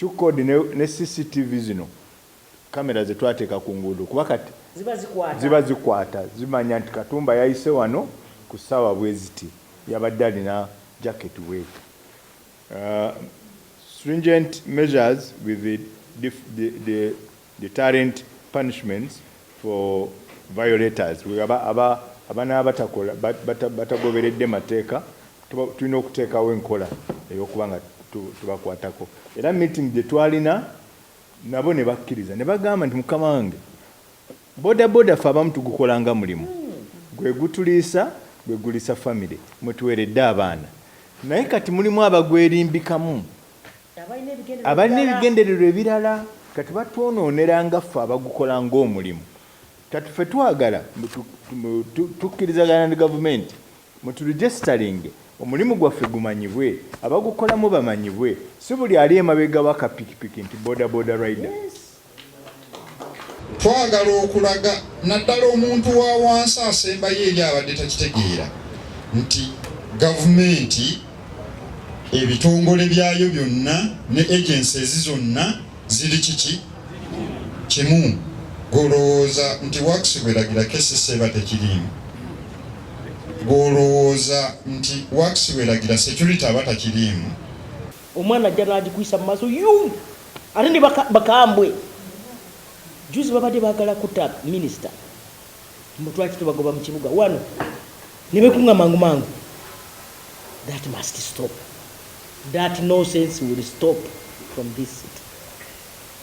Qcode ne ne CCTV zino camera zetwateeka ku nguudo kuba kati Ziba zikwata. ziba zikwata zimanya nti Katumba yayise wano ku ssaawa bweziti yabadde alina jacket bweti uh stringent measures with the dif the the deterrent punishments for violators abanaaba batakola batagoberedde mateeka tulina okuteekawo enkola eyokuba nga tubakwatako era meeting gye twalina nabo ne bakkiriza ne bagamba nti mukama wange boda boda fe abamu tugukola nga mulimu gwe gutuliisa gwe guliisa famire mwetuweredde abaana naye kati mulimu abagwerimbikamu abalina ebigendererwa ebirala kati batwonoonera nga ffe abagukola ng'omulimu kati ffe twagala tukkirizagana ne gavumenti muturegisitalinge omulimu gwaffe gumanyibwe abagukolamu bamanyibwe si buli ali emabega waka pikipiki nti bodaboda rider Twagala okulaga naddala omuntu wa wansi asembayo eri abadde takitegeera nti gavumenti ebitongole byayo byonna ne agencies zonna ziri kiki kimu golowooza nti wax bweragira kesisa eba tekiriimu golowooza nti wax bweragira security aba takiriimu omwana ajja nagikuyisa mu maaso yu Ate ne bakambwe juzi babadde bagala kutta minisita mbu twaki tubagoba mu kibuga wano ne bekunga mangu mangu. That must stop. That nonsense will stop from this city.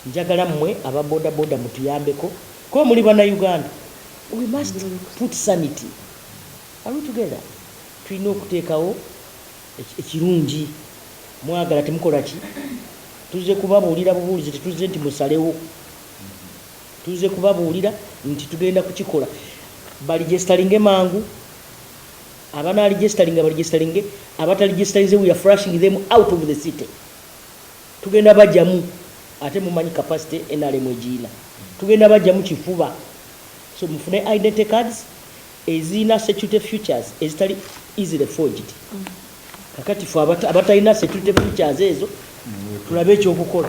Njagala mmwe aba boda boda mutuyambeko kuba muli bana Uganda. We must put sanity. Are we together? Tulina okuteekawo Ekirungi mwagala temukola ki? Tuzze kubabuulira bubuulizi, tetuzze nti musalewo. Tuzze kubabuulira nti tugenda kukikola. Balijesitalinge mangu, abanaalijisitalinga balijisitalinge, abatalijisitalinze we are flushing them out of the city. Tugenda bajjamu ate mumanyi capacity NRM egiyina. Tugenda bajjamu kifuba. So mufune identity cards, ezirina security features ezitali easily forged kakati fe abatalina security features ezo tulabe ekyokukola.